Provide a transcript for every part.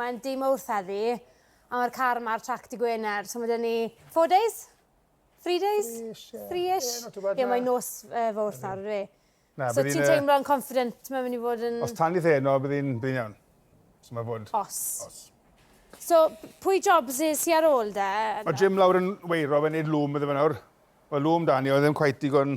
Mae'n dy Mowrth heddi, a mae'r car yma ar trac dy Gwener, so mae dyn ni four days? Three days? Three-ish? Ie, mae'n nos uh, fawrth nawr, ydy. So ti'n uh, teimlo'n confident, mae'n mynd i fod yn... Os tan i theno, bydd hi'n iawn. So mae fod... Os. Os. So, pwy jobs i si ar ôl de? Mae Jim lawr yn weiro, fe'n neud lwm iddo fe nawr. Mae lwm dan ni, oedd ddim cwaith digon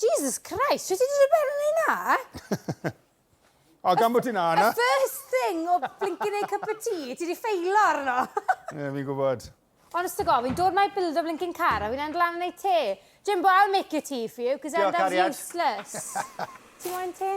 Jesus Christ, sut ti'n dod mewn yn ei na? o, gan bod ti'n na yna. The first thing o blinkin' ei cup of tea, ti di ffeilo arno. Ie, yeah, fi'n gwybod. Honest to God, fi'n dod mae build o blinkin' car a fi'n enll lan yn ei te. Jimbo, I'll make your tea for you, cos I'm that useless. Ti moyn te?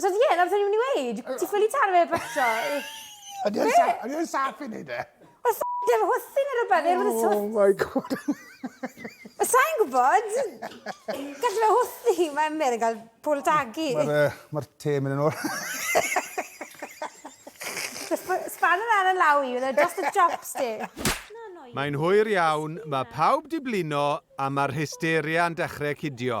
So ie, yeah, na'r o'n i'n mynd i weid. Ti ffili taro fe eto. Ydy o'n saff i wneud e? Wel, ffocin dim hwthu neu rhywbeth. Neu rhywbeth oh my god. Mae sa'n gwybod. Gallu fe hwthu. Mae Emyr yn cael pôl tagu. Mae'r uh, ma te mynd yn ôl. Span yr ar y law i, oedd just a chopstick. Mae'n hwyr iawn, mae pawb di blino a mae'r hysteria yn dechrau cidio.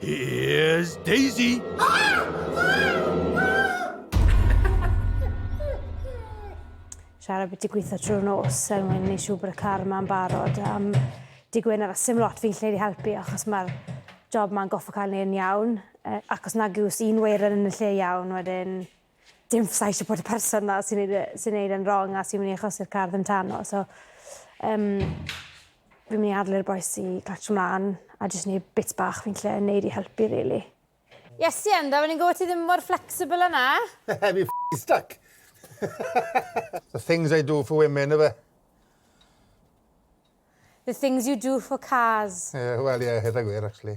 Here's Daisy! Siarad beth i gweithio trwy'r nos er mwyn ni siw bod y car yma'n barod. Um, di gwyn ar sim lot fi'n lleid i helpu achos mae'r job ma'n goffa cael ei yn iawn. Uh, ac os nag yw's un weiren yn y lle iawn wedyn dim fysai eisiau bod y person na sy'n neud, e- sy'n neud yn wrong a sy'n mynd i achosi'r car ddim tano. So, um, fi'n mynd i adlu'r boes i clatio mlaen a jyst neud bits bach fi'n lle neud i helpu, really. Yes, i enda, fe'n i'n gwybod ti ddim mor flexible yna. Fi f***ing stuck. The things I do for women, efe. The things you do for cars. Ie, wel ie, hynna gwir, actually.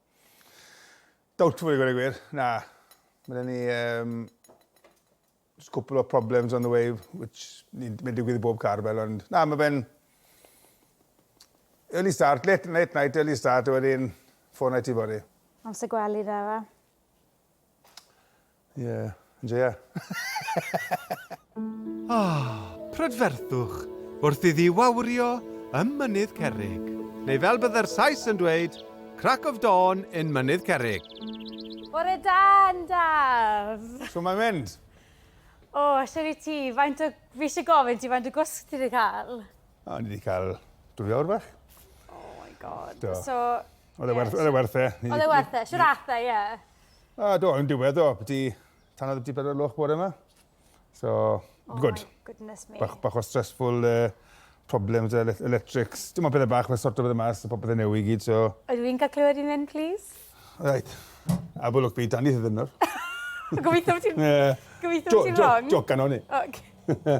Doubtful i gwneud gwir, na. Mae gen ni um, just cwpl o problems on the way, which ni'n mynd digwydd i bob car fel, ond na, mae fe'n early start, late, late night, early start, a wedyn ffôn i ti fory. Amser gwely da fa. Ie, joia. O, prydferthwch wrth iddi wawrio ym Mynydd Cerrig. Neu fel bydde'r Sais yn dweud, crack of dawn in Mynydd Cerrig. Bore da, Ndaf! Shw mae'n mynd? O, shwt i ti? Faint o... Fi eisiau gofyn ti faint o gwsg ti wedi cael? O, ni wedi cael dwy awr bach. Oh my god. Do. So... Oedd e werth e. Oedd e werth e. Shwt ath e, ie? A do, yn diwedd o, byti tanodd byti bedair loch bore yma. So, oh good. Oh my goodness me. Bach, bach o stressful uh, problems e, electrics. Dim ond pethau bach, mae'n sorto bethau mas, popeth yn newid i gyd, so... Ydw i'n cael clywed i'n mynd, please? Right. A bod lwc byd, dan i ddyn nawr. Gobeithio bod ti'n... Gobeithio bod ti'n wrong. Joc gan o'n i. Okay.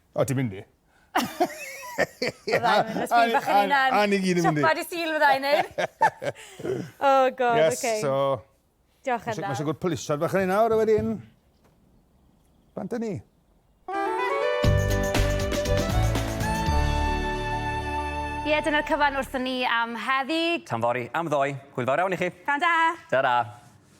O, ti'n mynd i? Fyddai'n mynd, os bydd bach yn unan. A ni gyd yn mynd i. Siopad i sîl fyddai'n neud. O, god, oce. Yes, so... Diolch yn dda. Mae'n sigur pwlisod bach yn un awr, a wedyn... Bant ni. Ie, dyna'r cyfan wrthyn ni am heddi. Tan fori, am ddoi. Hwyl fawr iawn i chi. Tan da. Ta-ra.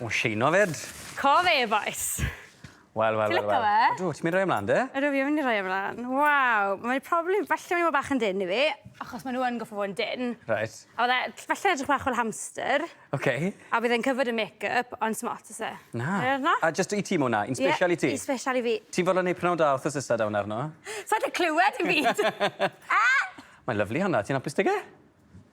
O sheino 'fyd. Cof e-bois. Wel wel wel wel. Ti lico fe? Ydw, ti myn' i roi e mlan 'de? Ydw fi myn' i roi e mlan. Waw, mae probably yn falle myn' i bo' bach yn dynn i fi, achos ma' n'w yn goffo' fo' yn dynn. Reit. A ma' fe t- falle'n edrych bach fel hamster. Oce. A bydd e'n covered yn make up ond sdim ots o's e? Na. Ie na? A jyst i ti ma' wnna, un sbesial i ti. Ie, un sbesial i fi. Ti'n fodlon neud prynhawn da wthnos nesa 'da wnna arno? Sai 'di clywed dim byd. Mae'n lyfli honna, ti'n apus 'dy fe?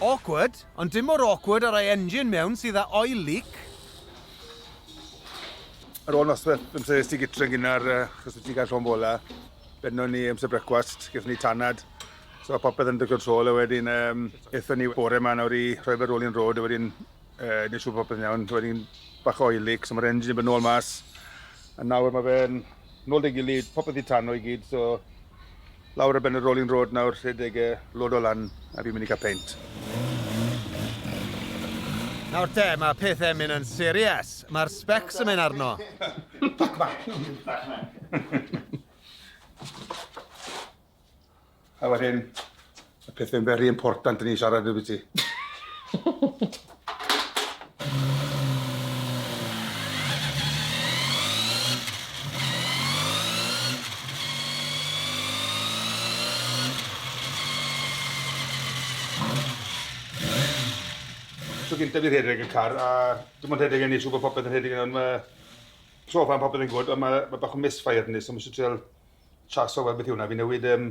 Awkward, ond dim mor awkward â rhoi engine mewn sydd â oil leak. Ar ôl nosweth, amser es ti gytre gynnar, chos wyt ti'n cael llon bola. Benno ni amser brecwast, gyda ni tanad. So popeth yn dy control a wedyn um, eithon ni bore yma nawr i rhoi fe rolling road a wedyn uh, nes siŵr popeth yn iawn. So wedyn bach o oil leak, so mae'r engine yn bod nôl mas. A nawr mae fe'n nôl dy gilydd, popeth i tanno i gyd, so Lawr ar ben y rolling road nawr, rhedeg e, lodo lan a fi'n mynd i cael peint. Nawr te, mae pethau'n mynd yn serious. Mae'r specs yn mynd arno. Fuck back. A wedyn, Y peth mae'n very important yn ei siarad efo ti. So gyntaf fi rhedeg y car a dim ond rhedeg yn ei siw bod popeth yn rhedeg yn ond mae so far popeth yn gwrdd ond mae, mae bach o misfire yn ei so mae eisiau trial chaso fel beth yw hwnna. Fi newid um,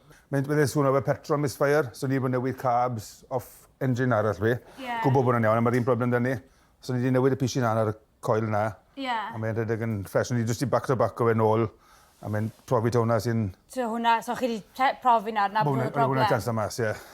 Mae'n byddai swno fel petrol misfire, so ni wedi bod yn newid carbs off engine arall fi. Ie. Gwbo bod hwnna'n iawn ond ma'r un problem da ni. So ni di newid y pishi na ar y coil na. Ie. A mae e'n rhedeg yn ffres. Ni jyst di back to back o fe nôl a mae'n profi taw hwnna sy'n... So hwnna, so chi di profi nawr na bod y problem? Hwnna, hwnna ta'r amser mas, ie.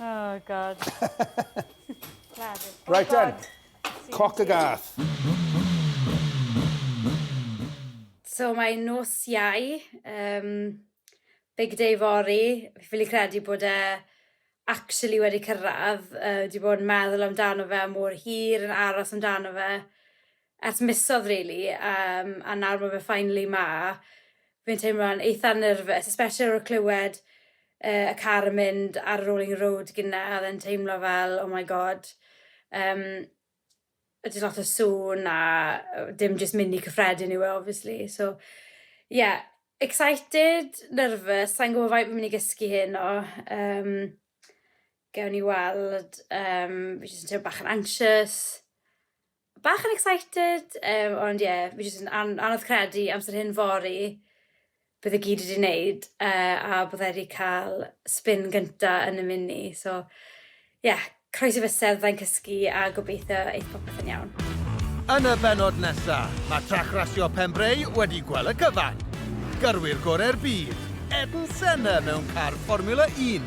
Oh, God. oh, right God. then, cock a gath. So mae nos iau, um, big day fori, fi'n credu bod e actually wedi cyrraedd, uh, wedi bod yn meddwl amdano fe mor hir yn aros amdano fe. ers misodd rili yym a nawr ma' fe finally 'ma. Fi'n teimlo'n eitha nerfus especially ar ôl clywed yy y car yn mynd ar y rolling road gynne a odd teimlo fel oh my god yym yy jys lot o sŵn a yy dim jyst mini cyffredin yw e obviously so ie excited, nerfus sai'n gwbo faint fi myn' i gysgu heno yym gewn ni weld yym fi jyst yn teimlo bach yn anxious. Bach yn excited yym ond ie fi jyst yn an- anodd credu amser hyn fory bydd e gyd wedi neud yy a bydda i 'di ca'l spin gynta yn y mini so ie croesi fysedd fyddai'n cysgu a gobeithio eith popeth yn iawn. Yn y bennod nesa, mae trac rasio Pembrey wedi gwel y cyfan. Gyrwyr gore'r byd, Ayrton Senna mewn car Fformula Un